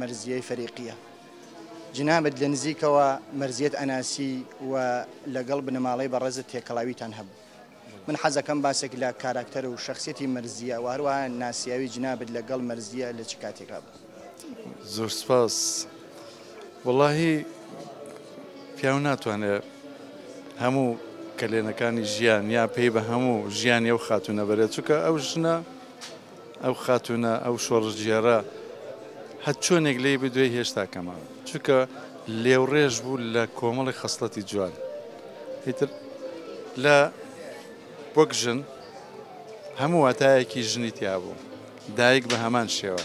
مەرزیەی فەریقیە جنابت لە نزیکەوە مەرزیەت ئەناسی و لەگەڵ بنەماڵەی بەڕێزت تێکەڵاویتان هەبوو من حەزەکەم باسێک لە کاراکتەر و شخصیەتی مەرزیە و هەروە ناسیاوی جنابت لەگەڵ مەرزیە لە چ کاتێکا بوو زۆر سپاس وڵی پیاو ناتوانێت هەموو کەلێنەکانی ژیان یا پێی بە هەموو ژیانی ئەو خاتونە بەرێت چکە ئەو ژنە ئەو خاتونە ئەو شۆڕشگێڕە هەر چۆنێک لێی بدوێ هێشتا کەمە چونکە لێوڕێژ بوو لە کۆمەڵی خەسڵەتی جوان هیتر لە وەک ژن هەموو واتایەکی ژنی تیابوو دایک بە هەمان شێوە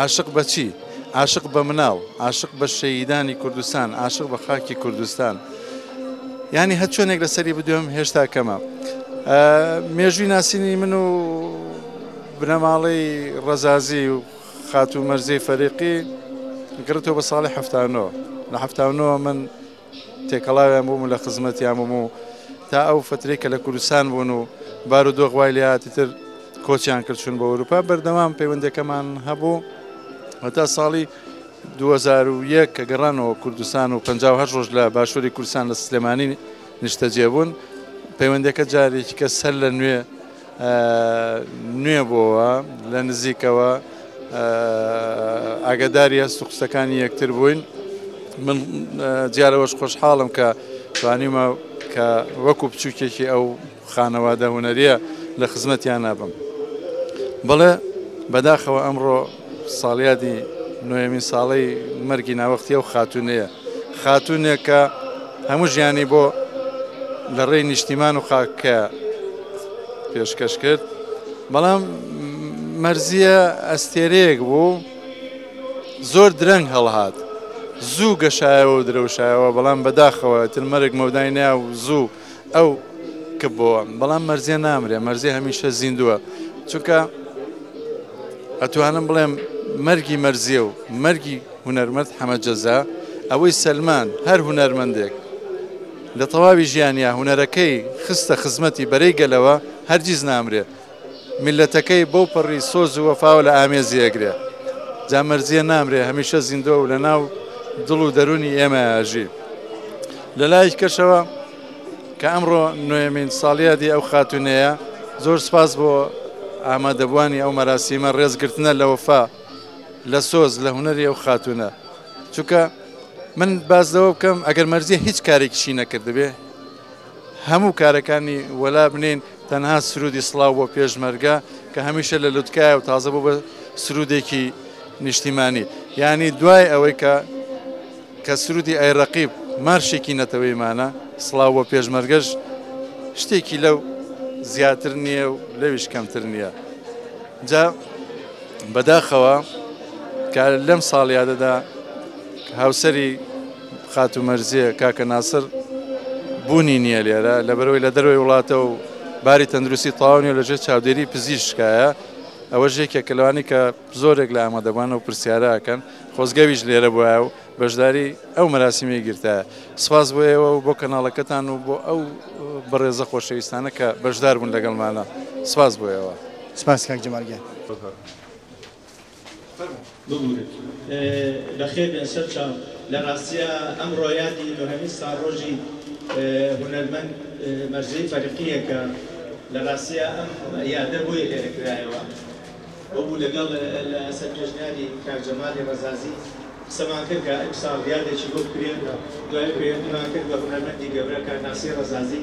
عاشق بە چی؟ عاشق بە مناڵ، عاشق بە شەهیدانی کوردستان، عاشق بە خاکی کوردستان. یانی هەر چۆنێک لەسەری بدوێم هێشتا کەمە. مێژووی ناسینی من و بنەماڵەی ڕەزازی و خاتوو مەرزی فەریقی گڕتەوە بە ساڵی هەفتانەوە لە هەفتانەوە من تێکەڵاویان بووم و لە خزمەتیان بووم و تا ئەو فترەی کە لە کوردستان بوون و بار و دۆخ وای لێهاتی تر کۆچیان کرد چون بە ئەوروپا بەردەوام پەیوەندەکەمان هەبوو هەتا ساڵی 2001 کە گەڕانەوە کوردستان و 58 ڕۆژ لە باشووری کوردستان لە سلێمانی نیشتەجێ بوون پەیوەندەکە جارێکی کە سەر لە نوێ نوێ بۆوە لە نزیکەوە ئاگداری هەست و قسەکانی یەکتر بووین من جارەوەش خۆشحاڵم کە توانیمە کە وەکو بچووکێکی ئەو خانەوادە هوەریە لە خزمەتیان نابم بەڵێ بەداخەوە ئەمڕۆ ساڵیادی نۆیەمین ساڵەی مەرگی ناوەختی ئەو خاتونەیە خاتونێک کە هەموو ژیانی بۆ لە ڕێی نیشتیمان و خاکە پێشکەش کرد بەڵام مەرزیە ئەستێرەیەک بوو زۆر درەنگ هەڵهات زوو گەشایەوە و درەوشایەوە بەڵام بەداخەوە تر مەرگ مەودای نیا و زوو ئەو کپ بۆوە بەڵام مەرزیە نامرێ مەرزی هەمیشە زیندووە چونکە ئەتوانم بڵێم مەرگی مەرزیە و مەرگی هوەرمەند حەمەجەزا ئەوەی سەلمان هەر هوەرمەندێک لە تەواوی ژیانیا هوەرەکەی خستە خزمەتی بەرەی گەلەوە هەرگیز نامرێت میللەتەکەی بەو پەڕی سۆز و وەفاوە لە ئامێزی ئەگرێ. جا مەرزیە نامرێ هەمیشە زیندوە و لەناو دڵ و دەرونی ئێمەیا ئەژی. لە لایەکی کەشەوە کە ئەمڕۆ نۆیەمین ساڵیادی ئەو خاتونەیە زۆر سوپاس بۆ ئامادەبوانی ئەو مەراسیمە ڕێز گرتنە لە وەفا لە سۆز لە هونەری ئەو خاتونە چونکە من باس لەوە بکەم ئەگەر مەرزیە هیچ کارێکیشی نەکردبێ هەموو کارەکانی وەلا بنێین تەنها سرودی سڵاو بۆ پێشمەرگە کە هەمیشە لە لوتکایە و تازە بۆ بە سرودێکی نیشتیمانی یعنی دوای ئەوەی کە کە سرودی ئەی ڕقیب مارشێکی نەتەوەیمانە سڵاو بۆ پێشمەرگەش شتێکی لەو زیاتر نییە و لەویش کەمتر نییە جا بەداخەوە کە لەم ساڵیادەدا هاوسری خاتوو مەرزیە، کاکە ناسر بوونی نییە لێرە، لەبەرئەوەی لە دەرەوەی وڵاتە و باری تەندروستی تەواو نییە و لەژێر چاودێری پزیشکایە، ئەوەش یەکێکە لەوانەی کە زۆرێک لە ئامادەبووان ئەو پرسیارە ئەکەن، خۆزگەویش لێرە بوایە و بەشداری ئەو مەراسیمەی گرتایە. سپاس بۆ ئێوە و بۆ کەناڵەکەتان و بۆ ئەو بەڕێزە خۆشەویستانە کە بەشداربوون لەگەڵمانا. سپاس بۆ ئێوە. سپاس کاک جەمال گیان. فەرموو. ببورن بەخێر بێن سەرچاو لە ڕاستیا ئەمڕۆ یادی نۆهەمین ساڵڕۆژی هونەرمەند مەرزیی فەرقییە کە لە ڕاستیا ئەم یادە بۆیە لێرە کرایەوە بۆ بوو لەگەڵ لە سەر پێشنیاری کاک جەمالی ڕەزازی قسەمان کرد کە ئیمساڵ یادێکی بۆ بکرێت دوای پەیوەندیمان کرد بە هونەرمەندی گەورە کاک ناسری ڕەزازی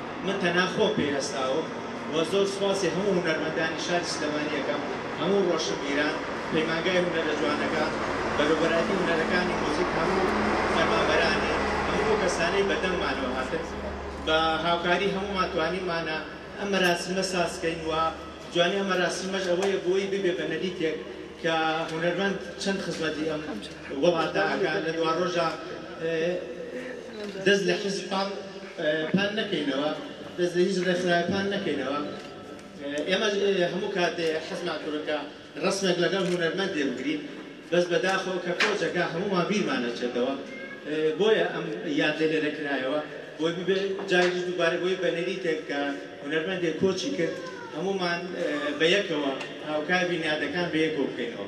من تەنها خۆم پێی هەستاوم و زۆر سوپاسی هەموو هونەرمەندانی شاری سلێمانی ئەکەم، هەموو ڕۆشنبیران، پەیمانگای هونەرە جوانەکان، بەروبەرایەتی هونەرەکانی موزیک، هەموو فەرمانبەرانی، هەموو ئەو کەسانەی بە دەنگمانەوە هاتن، بە هاوکاری هەموومان توانیمانە ئەم مەراسیمە ساز کەین و جوانی ئەم مەراسیمەش ئەوەیە بۆی ببێ بە نەریتێک کە هونەرمەند چەند خزمەتی ئەم وڵاتە ئەکا لە دواڕۆژا دەست لە حیزب پاک پان نەکەینەوە دەست لە هیچ ڕێکخراوێ پان نەکەینەوە ئێمە هەموو کاتێ حەزمان کردوە کە ڕەسمێک لەگەڵ هونەرمەندێ بگرین بەس بەداخەوە کە کۆچەکە هەموومان بیرمان ئەچێتەوە بۆیە ئەم یادە لێرە کرایەوە بۆی ببێ جاریش دووبارە بۆی بە نەریتێک کە هونەرمەندێ کۆچی کرد هەموومان بە یەکەوە هاوکار بین یادەکان بە یەکەوە بکەینەوە.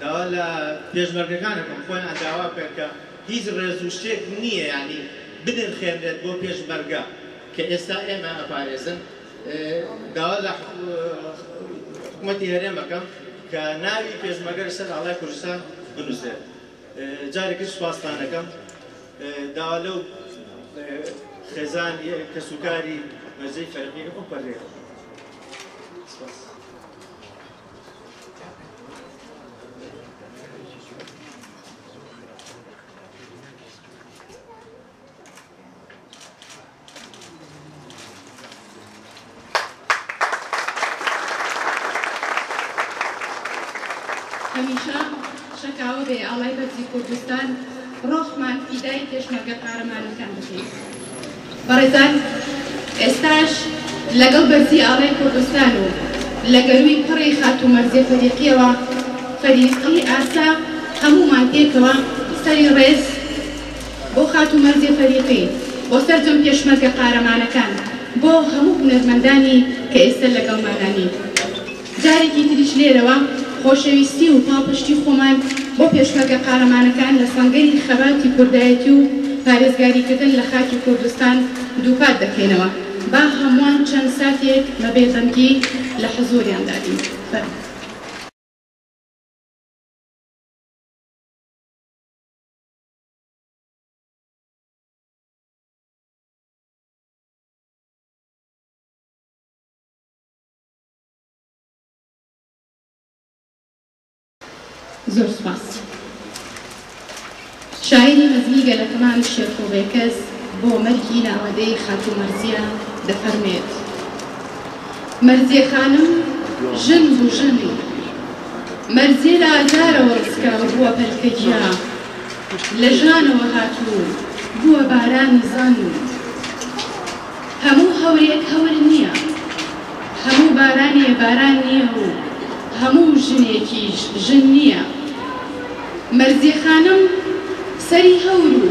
داوا لە پێشمەرگەکان ئەکەم خۆیان داوا بکەن کە هیچ ڕێز و شتێک نییە یانی بنرخێنرێت بۆ پێشمەرگە کە ئێستا ئێمە ئەپارێزن داوا لە حکومەتی هەرێم ئەکەم کە ناوی پێشمەرگە لەسەر ئاڵای کوردستان بنووسرێت جارێکی سوپاستان ئەکەم داوا لەو خێزان کەسوکاری مەرزەی فەرقی ئەو پەرێ سپاس هەمیشە شەکاوە بێ ئاڵای بەرزی کوردستان ڕۆحمان فیدای پێشمەرگە قارەمانەکان بکەین بەڕێزان ئێستاش لەگەڵ بەرزی ئاڵای کوردستان و لە گەرووی پڕی خاتوو مەرزیە فەریقیەوە فەریقی ئاسا هەموومان پێکەوە سەری ڕێز بۆ خاتوو مەرزیە فەریقی بۆ سەرجەم پێشمەرگە قارەمانەکان بۆ هەموو هونەرمەندانی کە ئێستە لەگەڵمانە نین. جارێکی تریش لێرەوە خۆشەویستی و پاڵپشتی خۆمان بۆ پێشمەرگە قارەمانەکان لە سەنگەری خەباتی کوردایەتی و پارێزگاریکردن لە خاکی کوردستان دووپات دەکەینەوە. با هەمووان چەند ساتێک بە بێدەنگی لە حزووریاندا بین. زۆر سوپاس شاعیری مەزنی گەلە کەمال شێخۆ بێکەس بۆ مەرگی ناوەدەی خاتوو مەرزیە دەفەرمێت مەرزیە خانم ژن بوو ژن مەرزیە لە ئازارەوە ڕسکاو بووە پەلکە گیا لە ژانەوە هاتوو بووە بارانی زەن هەموو هەورێک هەور نییە، هەموو بارانێ باران نییە و هەموو ژنێکیش ژن نییە. مەرزیە خانم سەری هەور و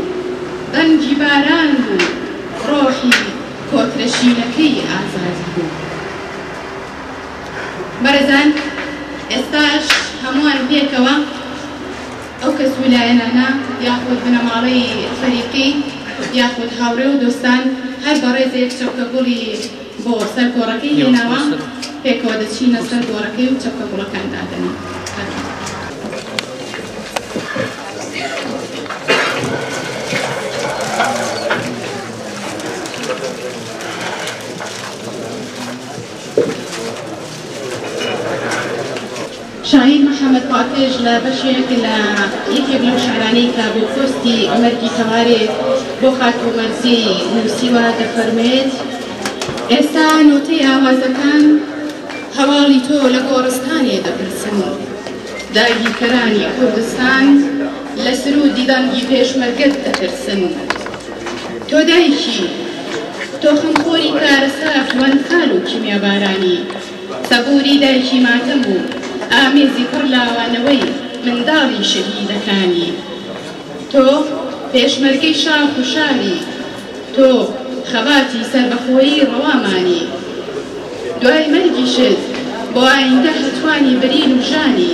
ڕەنگی باران و ڕۆحی کۆترە شینەکەی ئازادی بوو. بەڕێزان ئێستاش هەمووان پێکەوە. ئەو کەس و لایەنانە یاخود بنەماڵەی فەریقی یاخود هاوڕێ و دۆستان هەر بەڕێزێک چەپکە گوڵی بۆ سەر گۆڕەکەی هێناوە پێکەوە دەچینە سەر گۆڕەکەی و چەپکە گوڵەکان دادەنێین کاکە. شاهین محەمەد پاکژ لە بەشێک لە یەکێک لەو شیعرانەی کە بۆ پۆستی مەرگی تەوارێ بۆ خاتوو مەرزی نووسیوە دەفەرموێت ئێستا نۆتەی ئاوازەکان هەواڵی تۆ لە گۆڕستانێ دەپرسن داگیرکەرانی کوردستان لە سروودی دەنگی پێشمەرگەت دەترسن تۆ دایکی تۆ خەمخۆری کارەسات و ئەنفال و کیمیابارانی سەبووری دایکی ماتەم و ئامێزی پڕ لاوانەوەی منداڵی شەهیدەکانی. تۆ پێشمەرگەی شاخ و شاری، تۆ خەباتی سەربەخۆیی ڕەوامانی. دوای مەرگیشت بۆ ئایندە هەتوانی برین و ژانی.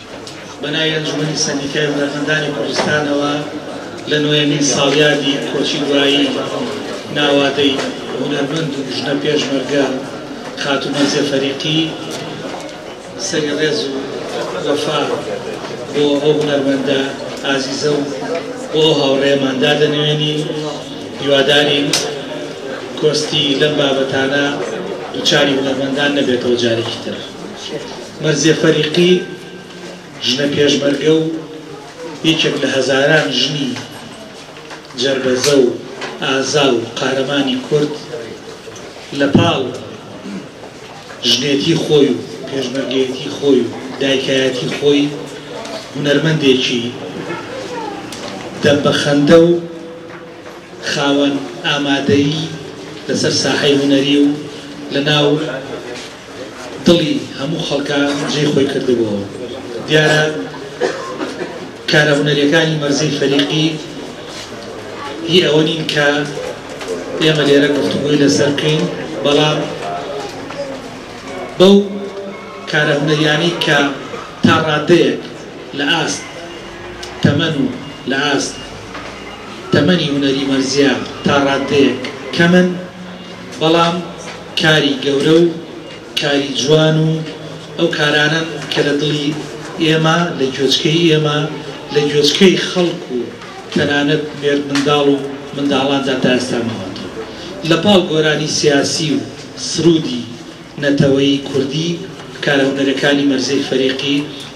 بە ناوی ئەنجومەنی سەندیکای هونەرمەندانی کوردستانەوە لە نۆیەمین ساڵیادی کۆچی دوایی ناوادەی هونەرمەند و ژنە پێشمەرگە خاتوو مەرزیە فەریقی سەری ڕێز و وەفا بۆ ئەو هونەرمەندە ئازیزە و بۆ هاوڕێمان دادەنوێنی هیوادارین کۆستی لەم بابەتانە دوچاری هونەرمەندان نەبێتەوە جارێکی تر. مەرزیە فەریقی، ژنە پێشمەرگە و یەکێک لە هەزاران ژنی جەربەزە و ئازا و قارەمانی کورد، لە پاڵ ژنێتی خۆی و پێشمەرگەیەتی خۆی و دایکایەتی خۆی، هونەرمەندێکی دەم بە خەندە و خاوەن ئامادەیی لەسەر ساحەی هونەری و لەناو دڵی هەموو خەڵکە جێی خۆی کردبۆوە دیارە کارە هونەریەکانی مەرزی فەریقی هی ئەوە نین کە ئێمە لێرە گفتوگۆی لەسەر بکەین بەڵام بەو کارە هونەریانی کە تا ڕادەیەک لە ئاست تەمەن و لە ئاست تەمەنی هونەری مەرزیە تا ڕادەیەک کەمن بەڵام کاری گەورە و کاری جوان و ئەو کارانەن کە لە دڵی ئێمە، لە گوێچکەی ئێمە، لە گوێچکەی خەڵک و تەنانەت مێردمنداڵ و منداڵاندا تا ئێستا ماوەتەوە. لە پاڵ گۆرانی سیاسی و سروودی نەتەوەیی کوردی، کارهونەرەکانی مەرزێی فەریقی،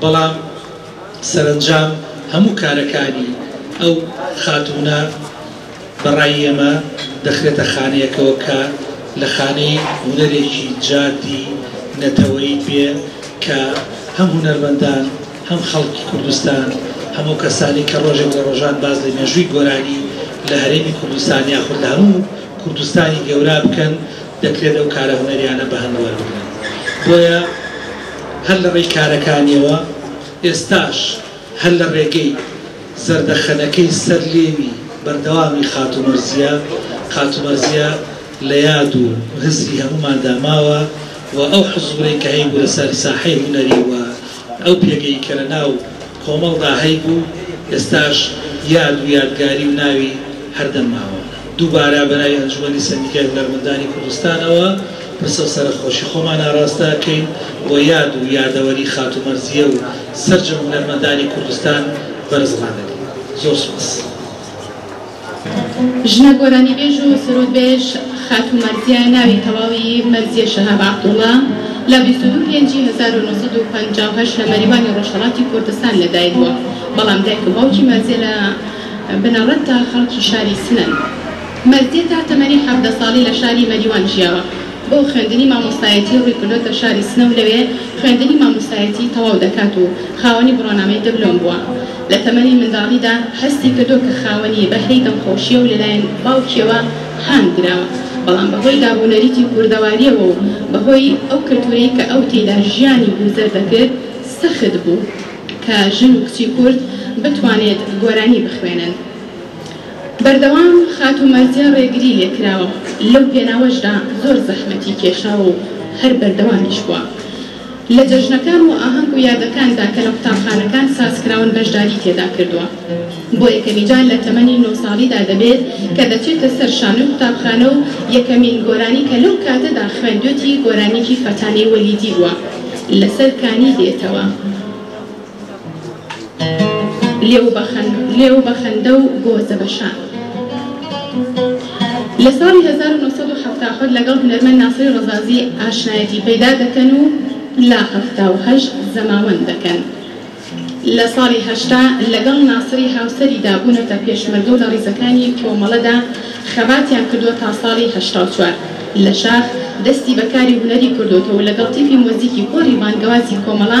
بەڵام سەرەنجام هەموو کارەکانی ئەو خاتوونە بە ڕای ئێمە دەخرێتە خانەیەکەوە کە لە خانەی هونەرێکی جادی نەتەوەیی بێ کە هەم هونەرمەندان هەم خەڵکی کوردستان هەم ئەو کەسانەی کە ڕۆژێک لە ڕۆژان باس لە مێژووی گۆرانی لە هەرێمی کوردستان یاخود لە هەموو کوردستانی گەورا بکەن دەکرێت ئەو کارە هونەریانە بە هەند وەربگرن بۆیە هەر لە ڕێی کارەکانیەوە ئێستاش هەر لە ڕێگەی زەردەخەنەکەی سەر لێوی بەردەوامی خاتوو مەرزیە خاتوو مەرزیە لە یاد و هزری هەمووماندا ماوە و ئەو حزورەی کە هەیبوو لەسەر ساحەی هونەری و ئەو پێگەی کە لە ناو کۆمەڵدا هەیبوو، ئێستاش یاد و یادگاری و ناوی هەردەم ماوە. دووبارە بە ناوی ئەنجومەنی سەندیکای هونەرمەندانی کوردستانەوە پرسە و سەرەخۆشی خۆمان ئاراستە ئەکەین بۆ یاد و یادەوەری خاتوو مەرزیە و سەرجەم هونەرمەندانی کوردستان بەرز ڕادەگرین. زۆر سوپاس. ژنە گۆرانیبێژ و سرودبێژ خاتوو مەرزیە، ناوی تەواوی مەرزیە شەهاب عەبدوڵا، لە بیست و دوو پێنجی هەزار و نۆ سەد و پەنجا و هەشت لە مەریوانی ڕۆژهەڵاتی کوردستان لە دایک بووە، بەڵام دایک و باوکی مەرزیە لە بنەڕەتدا خەڵکی شاری سنەن. مەرزیە تا تەمەنی حەڤدە ساڵی لە شاری مەریوان ژیاوە. بۆ خوێندنی مامۆستایەتی ڕووی کردۆتە شاری سنە و لەوێ خوێندنی مامۆستایەتی تەواو دەکات و خاوەنی بڕوانامەی دبلۆم بووە. لە تەمەنی منداڵیدا هەستی کردووە کە خاوەنی بەهرەی دەمخۆشییە و لەلایەن باوکییەوە هان دراوە، بەڵام بە هۆی داب و نەریتی کوردەوارییەوە و بە هۆی ئەو کەلتوورەی کە ئەو تێیدا ژیانی گوزەر دەکرد سەخت بوو کە ژن و کچی کورد بتوانێت گۆرانی بخوێنن. بەردەوام خاتوو مەرزیە ڕێگری لێ کراوە، لەو پێناوەشدا زۆر زەحمەتی کێشاوە و هەر بەردەوامیش بووە. لە جەژنەکان و ئاهەنگ و یادەکاندا کە لە قوتابخانەکان سازکراون بەشداریی تێدا کردووە. بۆ یەکەمیجار لە تەمەنی نۆ ساڵیدا دەبێت کە دەچێتە سەر شانۆی قوتابخانە و یەکەمین گۆرانی کە لەو کاتەدا خوێندوێتی گۆرانییەکی فەتانەی وەلیدی بووە لەسەر کانی دێتەوە. لێو بە خەن لێو بە خەندە و گۆزە بە شان. لە ساڵی 1970 لەگەڵ هونەرمەند ناسری ڕەزازی ئاشنایەتی پەیدا دەکەن و لا هەفتا و هەشت زەماوەند دەکەن. لە ساڵی هەشتا لەگەڵ ناسری هاوسەریدا بوونەتە پێشمەرگە و لە ڕیزەکانی کۆمەڵەدا خەباتیان کردووە تا ساڵی هەشتا و چوار لە شاخ دەستی بە کاری هونەری کردووەتەوە و لەگەڵ تیپی مۆزیکی کۆری بانگەوازی کۆمەڵە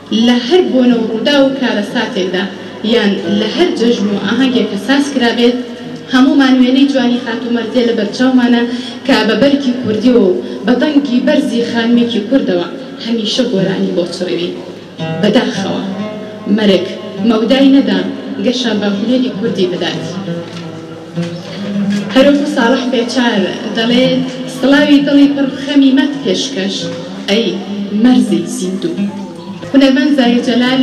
لە هەر بۆنە و ڕووداو و کارەساتێکدا یان لە هەر جەژن و ئاهەنگێک کە ساز کرابێت، هەموومان وێنەی جوانی خاتوو مەرزیە لە بەرچاومانە کە بە بەرگی کوردیەوە و بە دەنگی بەرزی خانمێکی کوردەوە هەمیشە گۆرانی بۆ چڕیوین. بە داخەوە مەرگ مەودای نەدا گەشە بە هونەری کوردی بدات. هەروەکو ساڵح پێچار دەڵێت، سڵاوی دڵی پڕ خەمی مەت پێشکەش ئەی مەرزی زیندوو. هونەرمەند زاهیر جەلال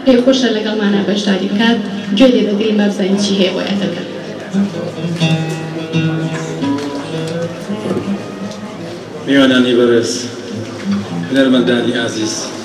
پێی خۆشە لەگەڵمانا بەشداری بکات، گوێ لێ دەگرین با بزانین چی هەیە بۆ یادەکە. میوانانی بەڕێز، هونەرمەندانی ئازیز.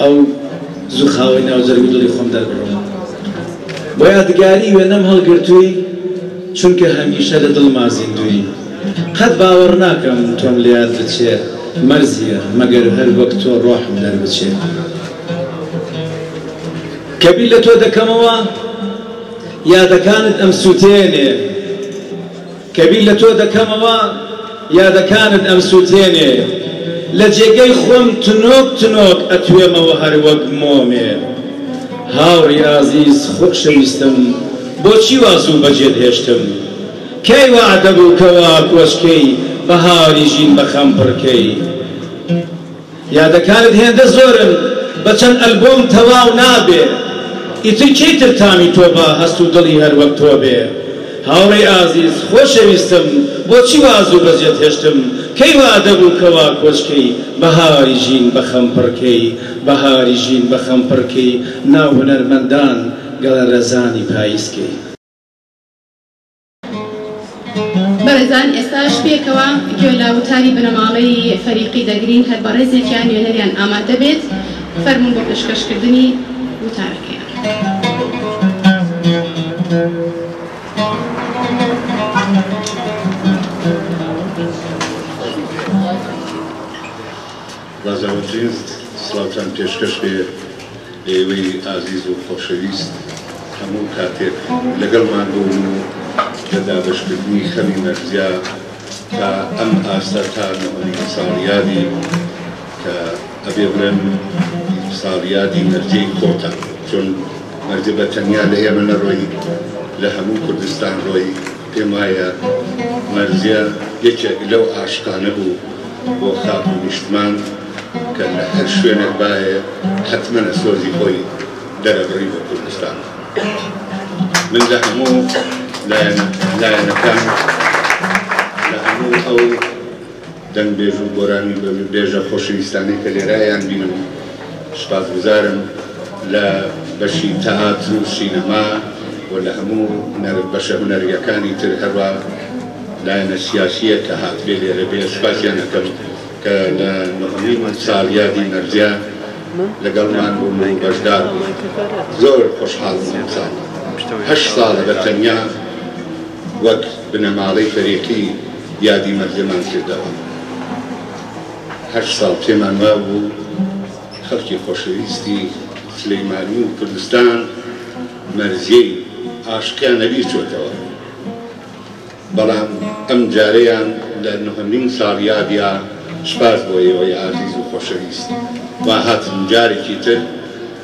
ئەو زوو خاوەی ناو جەرگ و دڵی خۆم دەربڕم بۆ یادگاری وێنەم هەڵگرتووی چونکە هەمیشە لە دڵما زیندووی قەت باوەڕ ناکەم تۆم لە یاد بچێ مەرزیە مەگەر هەر وەک تۆ ڕۆحم دەربچێ کە بیر لە تۆ دەکەمەوە یادەکانت ئەمسووتێنێ. کە بیر لە تۆ دەکەمەوە یادەکانت ئەمسوتێنێ لە جێگەی خۆم تنۆک تنۆک ئەتوێمەوە هەر وەک مۆمێ هاوڕی ئازیز خۆشەویستم بۆچی وا زوو بەجێت هێشتم کەی وەعدەبوو کە وا کۆچکەی بەهاری ژین بە خەم پڕکەی یادەکانت هێندە زۆرن بە چەند ئەلبۆم تەواو نابێ ئیتر کێی تر تامی تۆ با هەست و دڵی هەر وەک تۆ بێ هاوڕێی ئازیز خۆشەویستم بۆچی وا زوو بەجێت هێشتم کەی وا دەبوو کە وا کۆچ کەی بەهاری ژین بە خەم پڕ کەی بەهاری ژین بە خەم پڕ کەی ناو هونەرمەندان گەڵە رەزانی پاییز کەی. بەڕێزان ئێستاش پێکەوە گوێ لە وتاری بنەماڵەی فەریقی دەگرین هەر بەڕێزێکیان نوێنەریان ئامادە بێت فەرمون بۆ پێشکەشکردنی وتارەکەیان. بەزەوەترین سڵاوتان پێشکەش بێ لەئێوەی ئازیز و خۆشەویست هەموو کاتێک لەگەڵمان بوون و لە دابەشکردنی خەمی مەرزیا تا ئەم ئاستە تا نۆهەمین ساڵیادی کە ئەبێ بڵێم ساڵیادی مەرزیەی خۆتە چۆن مەرزیە بەتەنیا لەئێمە نەڕۆی لەهەموو کوردستان ڕۆی. پێم وایە مەرزیە یەکێک لەو ئاشقانە بوو بۆ خاک و نیشتمان کە لە هەر شوێنێک بایە حەتمەنە سۆزی خۆی دەرەبڕی بۆ کوردستان من لە هەموو لایەنەکان لە هەموو ئەو دەنگ بێژ و گۆرانی بە بێژە خۆشەویستانەی کە لێرە یان بینم سوپاس گوزارم لە بەشی تەئاتر و سینەما و لە هەموو هونەر بەشە هونەریەکانی تر هەروا لایەنە سیاسیە کە هاتبێ لێرە بێ سوپاسیان ئەکەم کە لە نۆهەمین ساڵیادی مەرجە لەگەڵمان بوون و بەشدار بوون زۆر خۆشحاڵم ئەمساڵ هەشت ساڵە بە تەنیا وەک بنەماڵەی فەریقی یادی مەرگەمان کردەوە. هەشت ساڵ پێمان مابوو خەڵکی خۆشەویستی سلیمانی و کوردستان مەرزیەی ئاشقیان لەبیر چۆتەوە، بەڵام ئەم جارەیان لە نهۆمین ساڵیادیا سوپاس بۆ ئێوەی ئازیز و خۆشەویست وا هاتن جارێکی تر.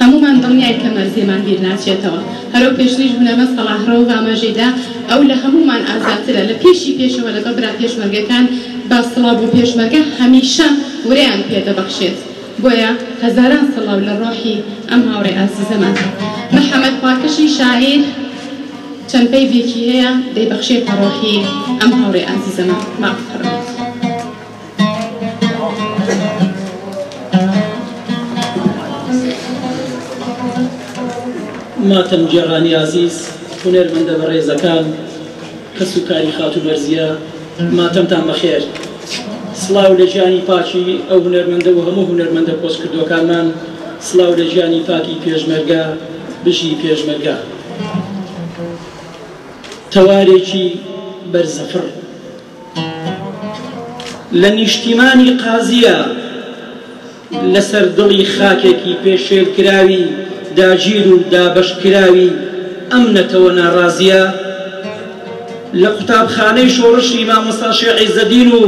هەموومان دڵنیاین کە مەرز لێمان بیر ناچێتەوە. هەرەو پێشتریش بنەمە سەڵاح رەوف ئاماژەی دا، ئەو لە هەموومان ئازاترە. لە پێشی پێشەوە لەگەڵ برا پێشمەرگەکان با سڵاو بۆ پێشمەرگە هەمیشە ورەیان پێ دەبەخشێت. بۆیە هەزاران سڵاو لە رۆحی ئەم هاوڕێ ئازیزەمان. محەمەد پاکەشی شاعیر چەند بەیدێکی هەیە دەیبەخشێتە رۆحی ئەم هاوڕێ ئازیزەمان. مافخڕن. ماتەم گێڕانی ئازیز، هونەرمەندە بەڕێزەکان، کەس و کاری خاتوو بەرزیە، ماتەمتان بەخێر. سڵاو لە گیانی پاکی ئەو هونەرمەندە و هەموو هونەرمەندە کۆچکردووەکانمان، سڵاو لە گیانی پاکی پێشمەرگە، بژی پێشمەرگە. تەوارێکی بەرزەفڕ. لە نیشتیمانی قازیە لەسەر دڵی خاکێکی پێشێلکراوی داگیر و دابەشکراوی ئەم نەتەوە ناڕازیە، لە قوتابخانەی شۆڕشی مامۆستا شێخ عیزەدین و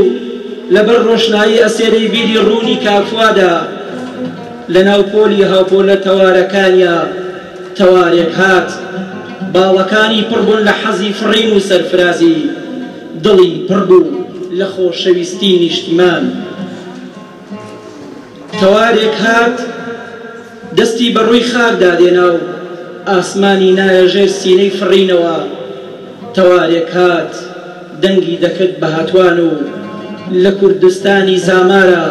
لەبەر ڕۆشنایی ئەسێرەی بیری ڕوونی کاک فوادا، لەناو پۆلی هاوپۆلە تەوارەکانیا، تەوارێک هات باڵەکانی پڕ بوون لە حەزی فڕین و سەرفرازی، دڵی پڕ بوو لە خۆشەویستی نیشتمان. تەوارێک هات دەستی بە ڕووی خاکدا دێنا و ئاسمانی نایە ژێر سینەی فڕینەوە، تەوارێک هات دەنگی دەکرد بە هەتوان و لە کوردستانی زامارا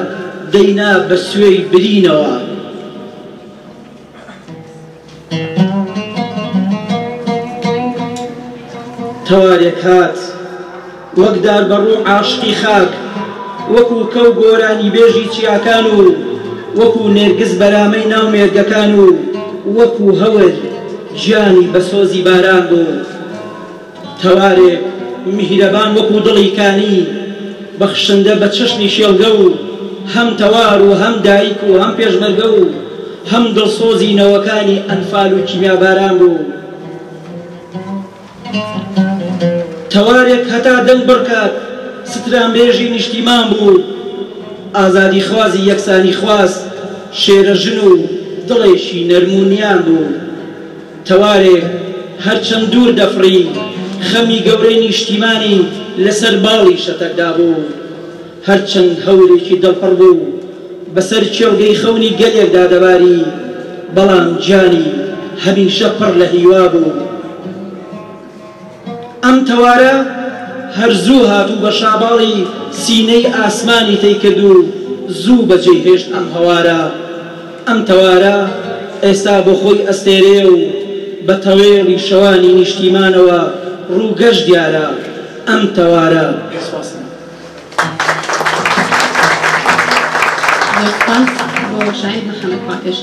دەینا بە سوێی برینەوە. تەوارێک هات وەک دار بە ڕوو عاشقی خاک وەکو کەو گۆرانی بێژی چیاکان و وەکو نێرگز بەرامەی ناو مێرگەکان و وەکو هەور گیانی بە سۆزی باران بوو. تەوارێک میهرەبان وەکو دڵی کانی بەخشندە بە چەشنی شێڵگە و هەم تەوار و هەم دایک و هەم پێشمەرگە و هەم دڵسۆزی نەوەکانی ئەنفال و کیمیاباران بوو. تەوارێک هەتا دەنگ بڕکات سترانبێژی نیشتیمان بوو، ئازادیخوازی یەکسانیخواز، شێرەژن و دڵێکی نەرم و نیان بوو. تەوارێ هەرچەند دوور دەفڕی، خەمی گەورەی نیشتیمانی لەسەر باڵی شەتەکدا بوو. هەرچەند هەورێکی دڵپڕ بوو بەسەر کێڵگەی خەونی گەلێکدا دەباری، بەڵام گیانی هەمیشە پڕ لە هیوا بوو. ئەم تەوارە هەر زوو هات و بە شاباڵی سینەی ئاسمانی تەی کرد و زوو بە جێی هێشت ئەم هەوارە. ئەم تەوارە ئێستا بۆ خۆی ئەستێرەیە و بە تەوێڵی شەوانی نیشتیمانەوە ڕووگەش دیارە. ئەم تەوارە. سپاستان. زۆر سپاس بۆ شاهید محەمەد پاکش.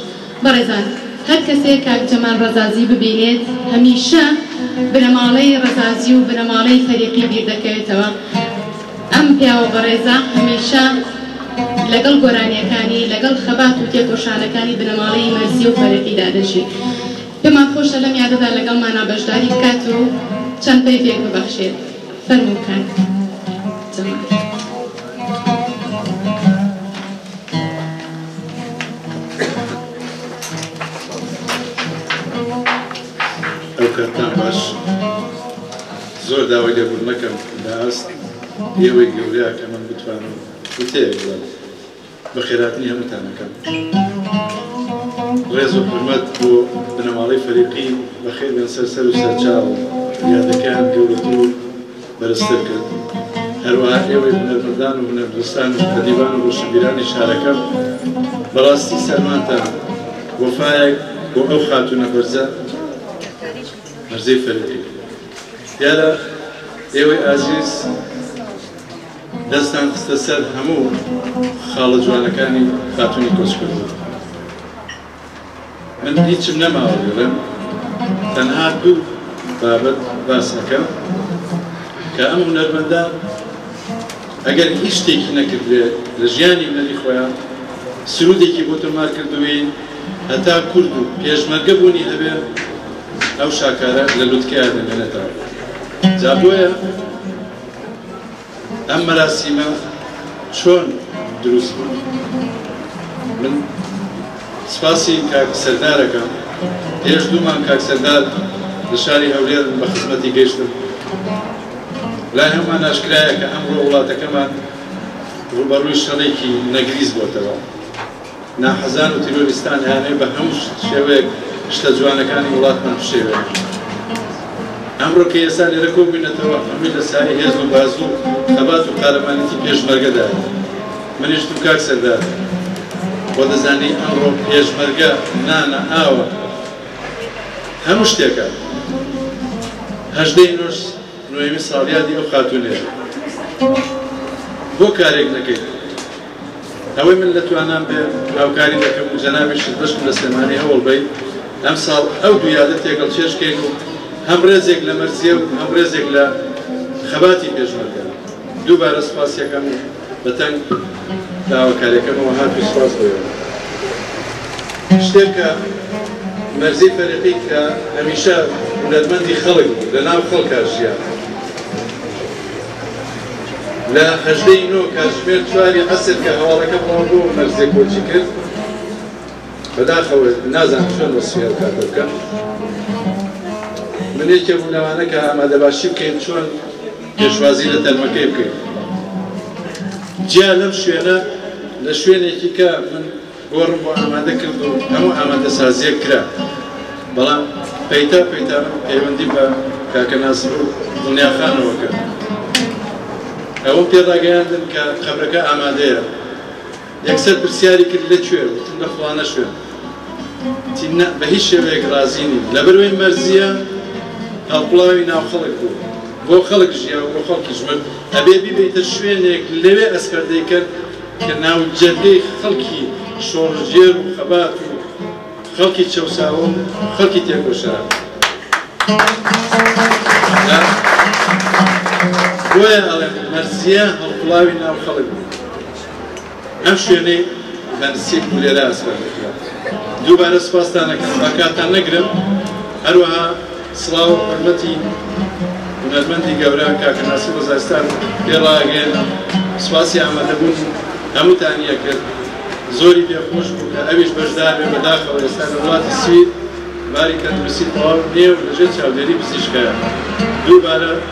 بەڕێزان هەر کەسێ کاک جەمال ڕەزازی ببینێت هەمیشە بنەماڵەی ڕەزازی و بنەماڵەی فەریقی بیر دەکەوێتەوە ئەم پیاوە بەڕێزە هەمیشە لەگەڵ گۆرانیەکانی لەگەڵ خەبات و تێکۆشانەکانی بنەماڵەی مەرزی و فەریقی دادەژی پێمان خۆشە لەم یادەدا لەگەڵ مانا بەشداری بکات و چەند پەیڤێک ببەخشێت فەرموو کاک جەمال. ئەوکاتان باش زۆر داوای لێبوون نەکەم باست ئێوەی گەورەیە کە من بتوانم وتەیەک بڵێم بە خێراتنی هەمووتانەکەم ڕێز و حرمەت بۆ بنەماڵەی فەریقین بەخێر بێن سەر سەر و سەرچاو یادەکەیان گەورەتر و بەرزتر کرد. هەروەها ئێوەی هونەرمەندان و هونەرپەرستان و ئەدیبان و ڕۆشنبیرانی شارەکەم بەڕاستی سەرمانتان وەفایەک بۆ ئەو خاتوونە بەرزە بەرزەی فەرهەدی دیارە ئێوەی ئازیز دەستان خستە سەر هەموو خاڵە جوانەکانی خاتوونی کۆچکردوو. من هیچم نەماوە بڵێم تەنها دوو بابەت باس ئەکەم کە ئەم هونەرمەندە ئەگەر هیچ شتێکی نەکردێ لە ژیانی هونەری خۆیان سرودێکی بۆ تۆمار کردووی هەتا کورد و پێشمەرگە بوونی هەبێ ئەو شاکارە لە لوتکەیە دەمێنێتەوە جا بۆیە ئەم مەراسیمە چۆن دروست بوو؟ من سپاسی کاک سەردار ئەکەم، پێش دوو مانگ کاک سەردار لە شاری هەولێر من بە خزمەتی گەیشتم، لای هەمووان ئاشکرایە کە ئەمڕۆ وڵاتەکەمان ڕووبەڕووی شەڕێکی نەگریس بۆتەوە، ناحەزان و تیرۆریستان ئەیانەوێت بە هەموو شێوەیەک شتە جوانەکانی وڵاتمان بشێوێنن. ئەمڕۆ کە ئێستا لێرە کۆبووینەتەوە هەمووی لە سایەی هێز و بازوو و خەبات و قارەمانێتی پێشمەرگەدایە. منیش و کاک سەردار خۆ دەزانی ئەمڕۆ پێشمەرگە نانە، ئاوە، هەموو شتێکە. هەژدەی نۆش نۆیەمین ساڵیادی ئەو خاتوونەیە. بۆ کارێک نەکەیت؟ ئەوەی من لە توانام بێ هاوکاری دەکەم و جەنابیشت بەشم لە سلێمانی هەوڵ بەیت ئەمساڵ ئەو دوو یادە تێکەڵ چێژ کەین و هەم ڕێزێک لە مەرزیە و هەم ڕێزێک لە خەباتی پێشمەرگە دووبارە سوپاسیەکەم و بە تەنگ داواکاریەکەمەوە هات و سوپاس بۆیەوە شتێک کە مەرزی فەرقی کە هەمیشە هونەرمەندی خەڵک بوو لە ناو خەڵکا ژیان لە هەژدە ی نۆ کاتژمێر چوار ی عەسر کە هەواڵەکە بڵاو بوو و مەرزێ کۆچی کرد، بەداخەوە نازانم چۆن وەسفی ئەو کاتە بکەم، من یەکێ بووم لەوانە کە ئامادەباشی بکەین چۆن پێشوازی لە تەرمەکەی بکەین. جیا لەم شوێنە لە شوێنێکی کە من گۆڕم بۆ ئامادە کرد و هەموو ئامادەسازییەک کرا، بەڵام پەیتا پەیتا من پەیوەندیم بە کاکە ناسر و دڵنیاخانەوە کرد. ئەوەم پێ ڕاگەیاندن کە قەبرەکە ئامادەیە. یەکسەر پرسیاری کرد لە کوێ؟ وتم لە فڵانە شوێن. وتی نا، بە هیچ شێوەیەک ڕازی نیم. لەبەرئەوەی مەرزییە، هەڵقوڵاوی ناو خەڵک بوو. بۆ خەڵک ژیا و بۆ خەڵکیش مرد. ئەبێ بیبەیتە شوێنێک لەوێ ئەسپەردەی کەن. کە ناوجەرگەی خەڵکی شۆڕشگێر و خەبات و خەڵکی چەوساوە و خەڵکی تێکۆشان بوو. بۆیە ئەڵێم مەرسیە هەڵقوڵاوی ناو خەڵک بوو. ئەم شوێنەی بە نسیب بوو لێرە ئەسپەردەکرا. دووبارە سوپاستان ئەکەم، با کاتتان نەگرم، هەروەها سڵاو حورمەتی هونەرمەندی گەورە کاکە ناسر وەزارستان پێ ڕاگەیەنم سوپاسی ئامادەبوونی هەمووتانی ئەکرد زۆری پێ خۆش بوو کە ئەویش بەشدار بێ بەداخەوە ئێستا لە وڵاتی سوید باری تەندروستی تەواو نییە و لەژێر چاودێری پزیشکایە دووبارە